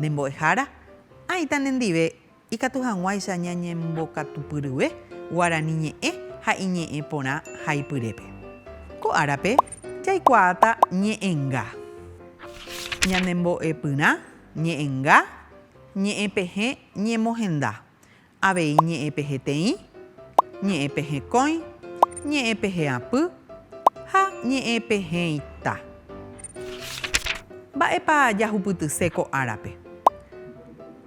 Ne mbo'ehára, ãita nendive ikatu hag̃uáicha ñañembokatupyryve guarani ñe'ẽ ha iñe'ẽ porã haipyrépe. Ko árape jaikuaáta ñe'ẽnga, ñanembo'epyrã ñe'ẽnga, ñe'ẽpehẽ ñemohenda, avei ñe'ẽ peheteĩ, ñe'ẽ pehekõi, ñe'ẽ peheapy ha ñe'ẽ peheita. Mba'épa jahupytyse ko árape?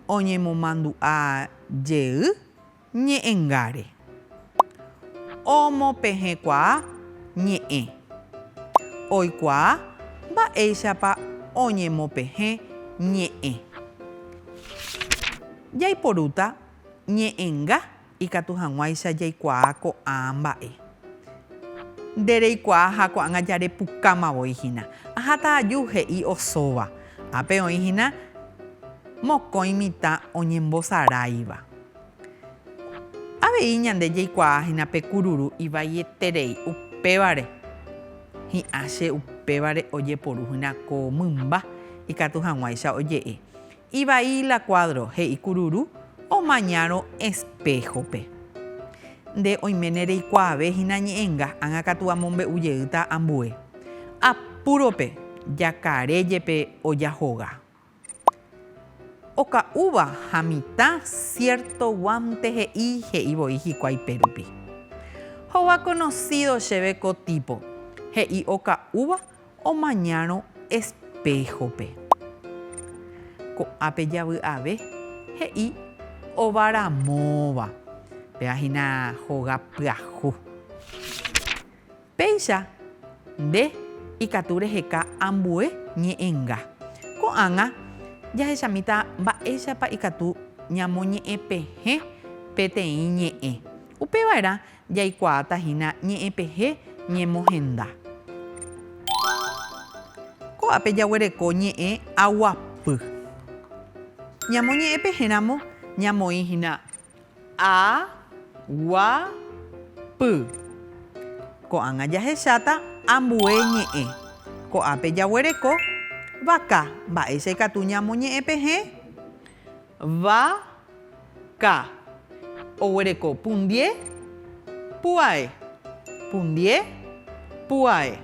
Oñemomandu'a jey ñe'ẽngáre. Omopehẽkuaa ñe'ẽ. Oikuaa mba'éichapa oñemopehẽ ñe'ẽ. Jaiporúta ñe'ẽnga ikatu hag̃uáicha jaikuaa ko'ã mba'e. Nde reikuaa ha ko'ág̃a jarepukáma voi hína. Aháta aju, he'i osóva. Ápe oĩ hína mokõi mitã oñembosaráiva. Avei ñande jaikuaa hína pe kururu ivaieterei upévare hi'ã che upévare ojeporu hína ko mymba ikatu hag̃uáicha oje'e. Ivai la kuádro he'i kururu omañárõ espéhope. Nde oiméne reikuaave hína ñe'ẽnga ág̃a katu amombe'u jeýta ambue. Apúrope jakare jepe ojahoga. Oka'úva ha mitã siérto guánte he'i he'i voi hikuái pérupi. Hova konosído chéve ko típo, he'i oka'úva omañárõ espéhope. Ko'ápe javy'ave, he'i ova ramóva. Péva hína hoga pyahu. Péicha nde ikatu reheka ambue ñe'ẽnga. Ko'ág̃a jahechamíta mba'éichapa ikatu ñamoñe'ẽpehẽ peteĩ ñe'ẽ. Upeva'erã jaikuaáta hína ñe'ẽpehẽ ñemohenda. Ko'ápe jaguereko ñe'ẽ aguapy. Ñamoñe'ẽpehẽramo ñamoĩ hína A, gua, py. Ko'ág̃a jahecháta ambue ñe'ẽ. Ko'ápe jaguereko vaka. Mba'éicha ikatu ñamoñe'ẽ pe hẽ? Va, ka. Oguereko pundie, pu'ae. Pundie, pu'ae.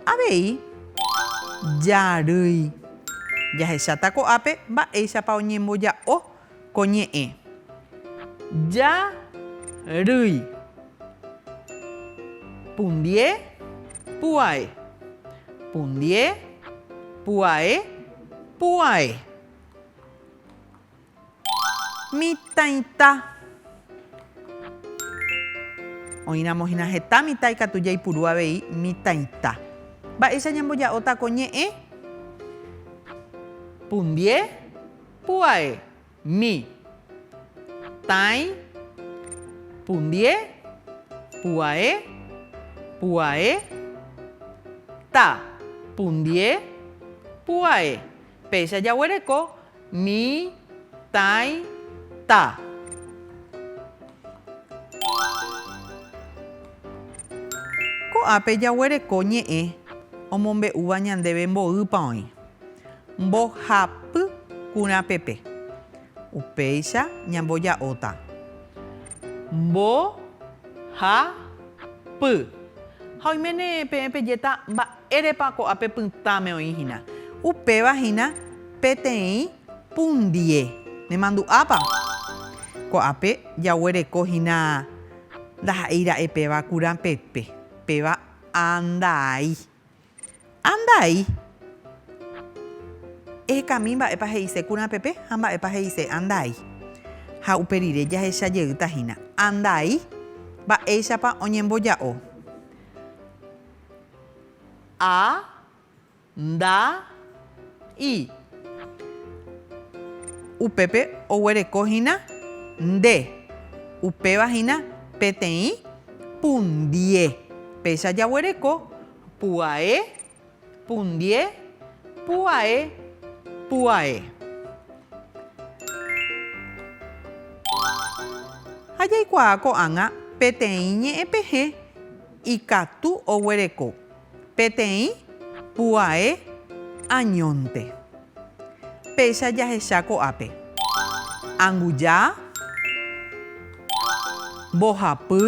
Avei jarýi. Jahecháta ko'ápe mba'éichapa oñemboja'o ko ñe'ẽ. Ja rýi. Pundie pu'ae. Pundie pu'ae pu'ae. Mitãita. Oĩramo hína heta mitã ikatu jaipuru avei mitãita. Mba'éicha ñamboja'óta ko ñe'ẽ? Pundie, pu'ae, mi. Tãi, pundie, pu'ae, pu'ae, ta, pundie, pu'ae. Péicha jaguereko mi, tãi, ta. Ko'ápe jaguereko ñe'ẽ omombe'úva ñandéve mboýpa oĩ, mbohapy kurãpepe. Upéicha ñamboja'óta, mbo, ha, py. Ha oiméne peẽ pejéta mba. Érepa ko'ápe pytãme oĩ hína. Upéva hína peteĩ pundie. Nemandu'ápa? Ko'ápe jaguereko hína ndaha'éi ra'e péva kurãpepe. Péva andai. Andai. Ehekami mba'épa he'ise kurãpepe ha mba'épa he'ise andai. Ha upe rire jahecha jeýta hína. Andai, mba'éichapa oñemboja'o. A, nda, i. Upépe oguereko hína nde, upéva hína peteĩ pundie. Péicha jaguereko pu'ae, pundie, pu'ae, pu'ae. Ha jaikuaa ko'ág̃a peteĩ ñe'ẽpehẽ. Ikatu oguereko peteĩ puae añónte. Péicha jahecha ko'ápe, anguja, mbohapy,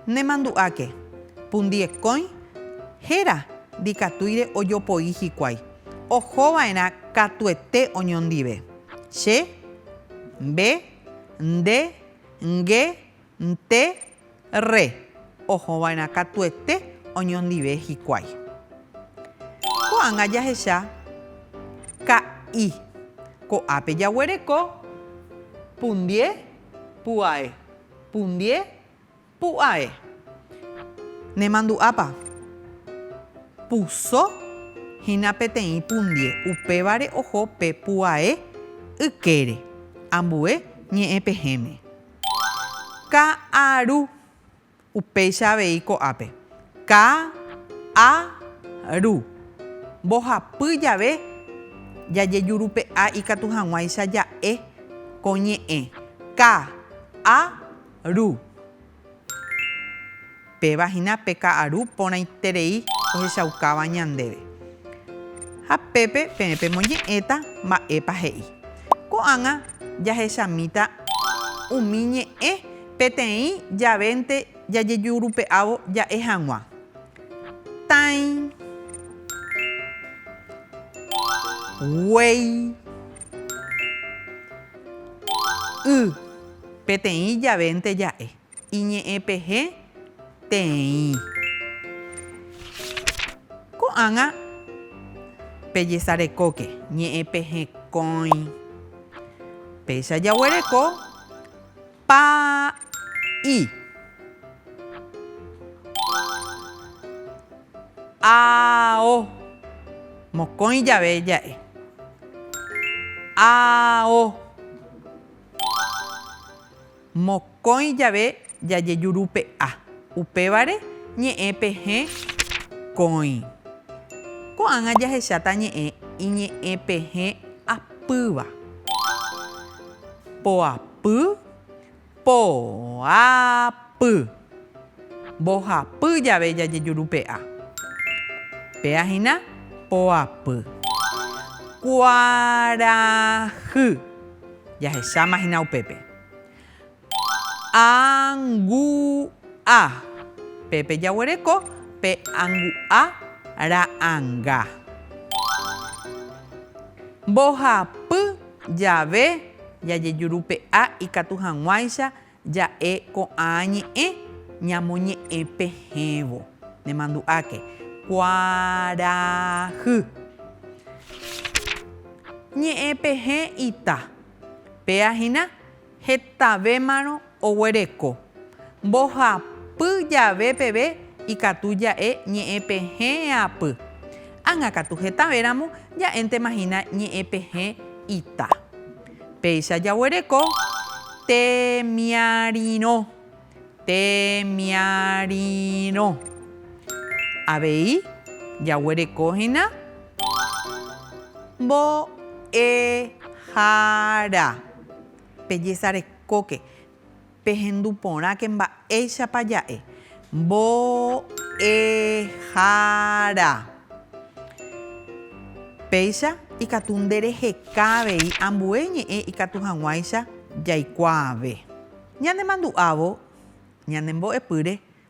nemandu'áke, pundiekõi, héra ndikatúire ojopoi hikuái, oho va'erã katuete oñondive, che, mbe, nde, Nge, nte, rre. Ohova'erã katuete oñondive hikuái. Ko'ág̃a jahecha ka'i. Ko'ápe jaguereko pundie pu'ae. Pundie. Pu'ae. Nemandu'ápa? Puso hína peteĩ pundie, upévare oho pe pu'ae ykére. Ambue ñe'ẽ pehẽme. Ka'aru. Upéicha avei ko'ápe. Ka'-a-ru. Mbohapy jave jajejurupe'a ikatu hag̃uáicha ja'e ko ñe'ẽ. Ka'-a-ru. Ru. Péva hína pe ka'aru porãiterei ohechaukáva ñandéve. Ha pépe peẽ pemoñe'ẽta mba'épa he'i. Ko'ág̃a jahechamíta umi ñe'ẽ peteĩ javénte jajejurupe'ávo ja'e hag̃ua. Tãi. Guéi. Y. Peteĩ javénte ja'e. Iñe'ẽpehe teĩ. Ko'ág̃a pejesarekóke. Ñe'ẽpehe kóĩ. Péicha jaguereko pa'i. Ao. Mokõi jave ja'e. Ao. Mokõi jave jajejurupe'a, upévare ñe'ẽ pe hẽ kõi. Ko'ág̃a jahecháta ñe'ẽ iñe'ẽ pe hẽ apýva. Poapy, poapy. Mbohapy jave jajejurupe'a. Péa hína, poapy. Kuarahy. Jahecháma hína upépe. Angu'a. Pépe jaguereko pe angu'a ra'ãnga. Mbohapy jave jajejurupe'a ikatu hag̃uáicha Ja'e ko'ã ñe'ẽ ñamoñe'ẽ pehẽvo. Nemandu'áke. Kuarahy. Ñe'ẽ pehẽ ita. Péa hína, hetavémarõ oguereko. Mbohapy jave peve ikatu ja'e ñe'ẽ pehẽ apy. Ág̃akatu hetavéramo ja'éntema hína ñe'ẽ pehẽ ita. Péicha jaguereko temiarirõ, temiarirõ. Avei jaguereko hína mbo'ehára. Pejesarekóke. Pehendu porãke mba'éichapa ja'e mbo'ehára. Péicha ikatu ndereheka avei ambue ñe'ẽ ikatu hag̃uáicha jaikuaave. Ñanemandu'ávo ñanembo'epýre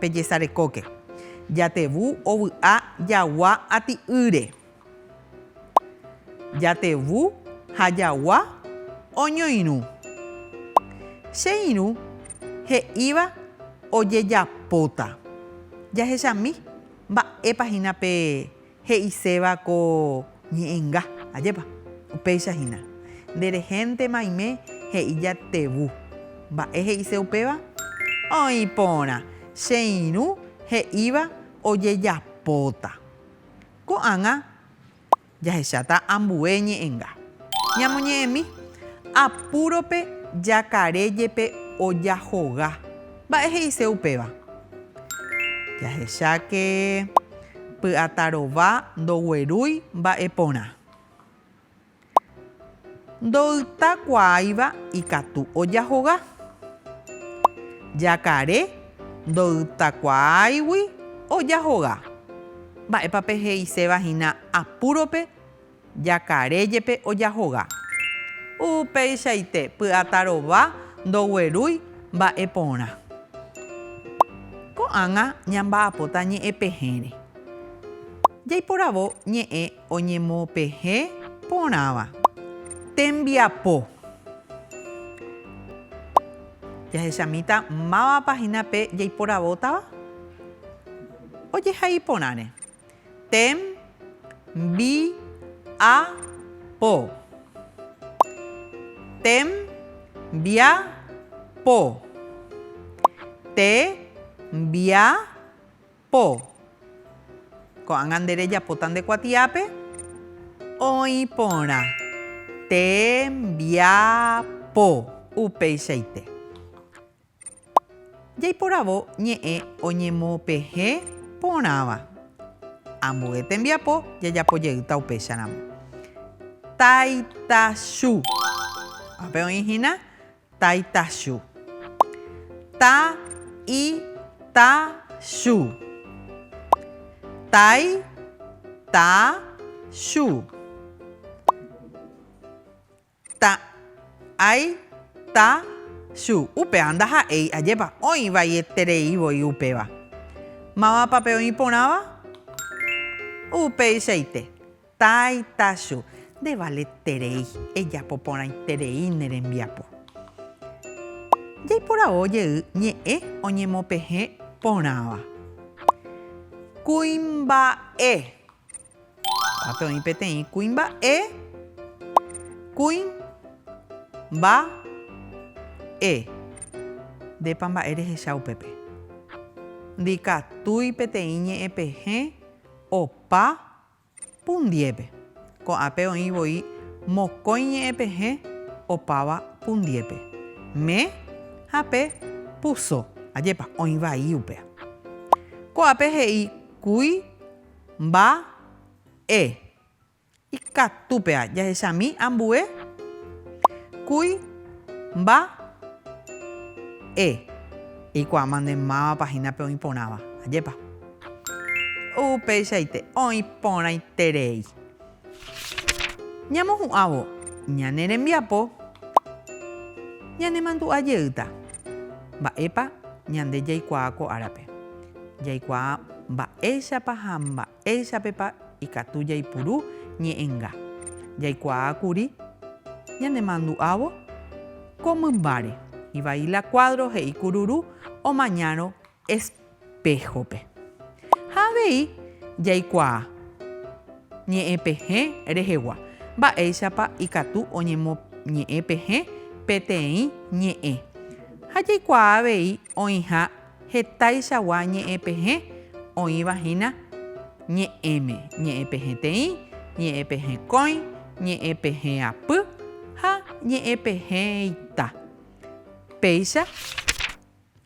Pejesarekóke. Jatevu ovy'a jagua ati'ýre. Jatevu ha jagua oñoirũ. Che irũ he'íva ojejapóta. Jahechami mba'épa hína pe He'iséva ko ñe'ẽnga, ajépa? Upéicha hína. Nde rehénte maime he'i jatevu. Mba'e he'ise upéva? Oĩ porã, che irũ he'íva ojejapóta. Ko'ág̃a jahecháta ambue ñe'ẽnga. Ñamoñe'ẽmi, Apúrope jakare jepe ojahoga. Mba'e he'ise upéva? Jahecháke py'ata rova ndoguerúi mba'e porã. Ndoytakuaáiva ikatu ojahoga. Jakare ndoytakuaáigui ojahoga. Mba'épa pe he'iséva hína apúrope? Jakare jepe ojahoga. Upeichaite py'atarova ndoguerúi mba'e porã. Ko'ág̃a ñamba'apóta ñe'ẽpehẽre. Jaiporavo ñe'ẽ oñemopehẽ porãva. Tembiapo. Jahechamíta mávapa hína pe jaiporavótava ojehai porãre. Tem, bi, a, po. Tem, bia, po. Te, mbia, po. Ko'ág̃a nde rejapóta nde kuatiápe. Oĩ porã. Te, mbia, po. Upeichaite. Jaiporavo ñe'ẽ oñemopehe porãva. Ambue tembiapo jajapo jeýta upécharamo. Taitachu. Ápe oĩ hína taitachu. Ta i ta chu. Tai ta chu. Ta, ai, ta, chu. Upéva ndaha'éi, ajépa, oĩ vaieterei voi upéva. Mávapa pe oĩ porãva? Upeichaite. Tai, ta, chu. Nde valeterei, ejapo porãiterei ne rembiapo. Jaiporavo jey ñe'ẽ oñemopehẽ porãva. Kuimba'e. Ápe oĩ peteĩ kuimba'e. Kuĩ. Mba. E. Ndépa mba'e rehecha upépe. Ndikatúi peteĩ ñe'ẽpehẽ opa pundiépe. Ko'ãpe oĩ voi mokõi ñe'ẽpehẽ opáva pundiépe. Me ha pe puso. Ajépa, oĩ vai upéa. Ko'ãpe he'i kuĩ Mba, e. Ikatu pea jahechami ambue kúi mba, e. Eikuaáma nde mávapa hína pe oĩ porãva. Ajépa. Upeichaite oĩ porãiterei. Ñamohu'ãvo ñane rembiapo ñanemandu'a jeýta mba'épa ñande jaikuaa ko árape. Jaikuaa mba'éichapa ha mba'éichapepa ikatu jaipuru ñe'ẽnga. Jaikuaa kuri ñanemandu'ávo ko mymbáre. Ivaí la Cuadro he'i kururu omañárõ Espéhope. Ha avei jaikuaa ñe'ẽ pehẽ rehegua, mba'éichapa ikatu oñemoñe'ẽ pehẽ peteĩ ñe'ẽ. Ha jaikuaa avei oĩha hetaichagua ñe'ẽ pehẽ oĩva hína ñe'ẽme, ñe'ẽ pehẽ teĩ, ñe'ẽ pehẽ kóĩ, ñe'ẽ pehẽ apy ha ñe'ẽ pehẽ ita. Péicha